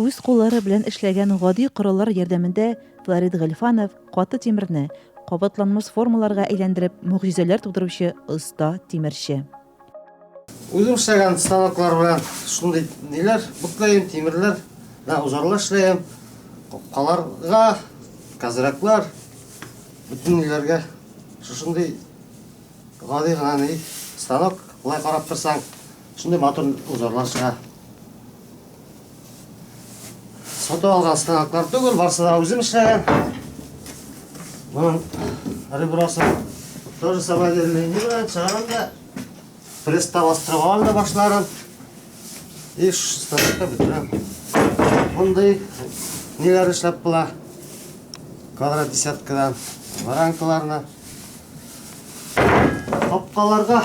Үз куллары белән эшләгән гади кораллар ярдәмендә Флорид Гальфанов каты тимерне кабатланмас формаларга әйләндереп мөгъҗизәләр тудыручы оста тимерче. Үзем эшләгән станоклар белән шундый ниләр буклаем, тимерләр, да узарлар эшләем. Капкаларга, казраклар, бөтен ниләргә шушындый гади гына ни станок, болай карап торсаң, шундый матур узарлар чыга. Сатып алган станоклар түгел, барысы да үзем эшләгән. Моның ребросы тоже самодельный не белән чыгарам да пресста бастырып алам да башларын. И станокта бетерәм. Мондый ниләр эшләп була. Квадрат десяткадан варанкаларны. Капкаларда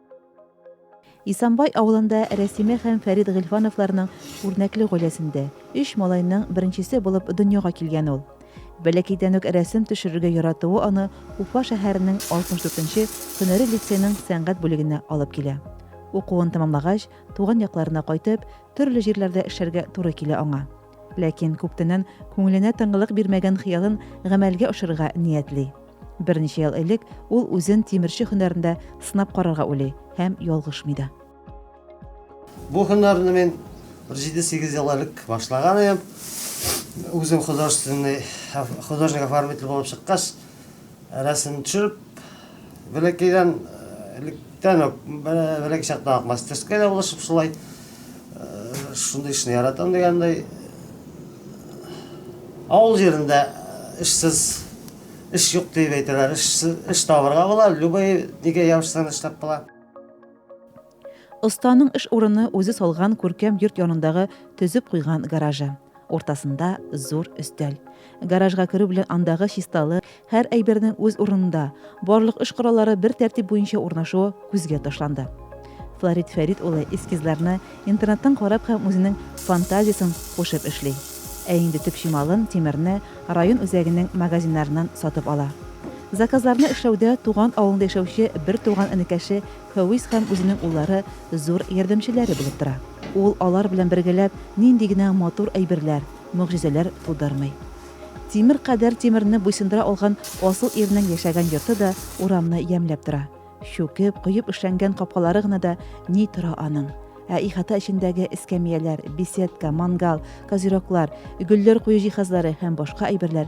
Исанбай авылында Рәсимә һәм Фәрит Гыйльфановларның үрнәкле гаиләсендә, өч малайның беренчесе булып дөньяга килгән ул. Бәләкәйдән үк рәсем төшерергә яратуы аны Уфа шәһәренең 64 нче һөнәри лицейның сәнгать бүлегенә алып килә. Укуын тәмамлагач, туган якларына кайтып, төрле җирләрдә эшләргә туры килә аңа. Ләкин күптәннән күңеленә тынгылык бирмәгән хыялын гамәлгә ашырырга ниятли. Берничә ел элек ул үзен тимерче һөнәрендә сынап карарга уйлый һәм ялгышмый да. Бу һөнәрне мин бер җиде-сигез ел элек башлаган идем. Үзем художественный художник-оформитель булып чыккач, Рәсем төшереп, бәләкәйдән электән үк, бәләкәй чактан ук мастерская да булышып шулай. Шундый эшне яратам дигәндәй. Авыл җирендә эшсез эш юк дип әйтәләр, эш табарга була, любой нигә ябышсаң эшләп була. Останың эш урыны үзе салган күркәм йорт янындагы төзеп куйган гаражы. Уртасында зур өстәл. Гаражга керү белән андагы чисталы, һәр әйбернең үз урынында, барлык эш кораллары бер тәртип буенча урнашуы күзгә ташланды. Флорид Фәрит улы эскизларны интернеттан карап һәм үзенең фантазиясен кушып эшли. Ә инде төп чималын, тимерне, район үзәгенең магазиннарыннан сатып ала. Заказларны эшләүдә туган авылында яшәүче бертуган энекәше Фәвис һәм үзенең уллары зур ярдәмчеләре булып тора. Ул алар белән бергәләп нинди генә матур әйберләр, могҗизәләр тудырмый. Тимер кадәр тимерне буйсындыра алган асыл ирнең яшәгән йорты да урамны ямьләп тора. Чүкеп, коеп эшләнгән капкалары гына да ни тора аның. Ә ихата эчендәге эскәмияләр, беседка, мангал, козероклар, гөлләр кую җиһазлары һәм башка әйберләр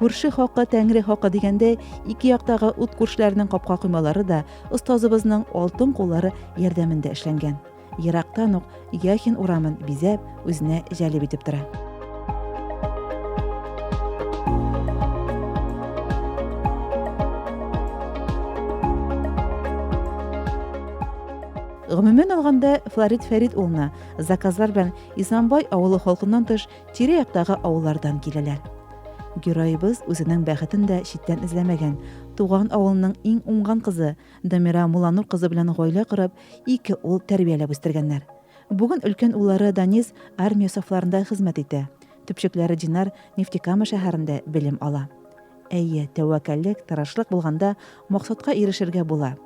Күрше хакы, тәңре хакы дигәндәй, ике яктагы ут күршеләренең капка коймалары да остазыбызның алтын куллары ярдәмендә эшләнгән. Ерактан ук Яхин урамын бизәп, үзенә җәлеп итеп тора. Гомумән алганда, Флорид Фәрит улына заказлар белән Исламбай авылы халкыннан тыш тирә-яктагы авыллардан киләләр. Героебыз үзенең бәхетен дә читтән эзләмәгән. Туган авылының иң уңган кызы Дамира Муланур кызы белән гаилә корып, ике ул тәрбияләп үстергәннәр. Бүген өлкән уллары Данис армия сафларында хезмәт итә. Төпчекләре Динар Нефтекама шәһәрендә белем ала. Әйе, тәвәккәллек, тырышлык булганда, максатка ирешергә була.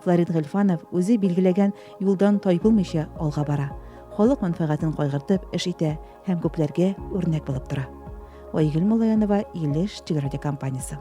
Флорид Гыйльфанов үзе билгеләгән юлдан тайпылмыйча алга бара, халык мәнфәгатен кайгыртып эш итә һәм күпләргә үрнәк булып тора. Айгөл Муллаянова, Илеш телерадиокомпаниясе.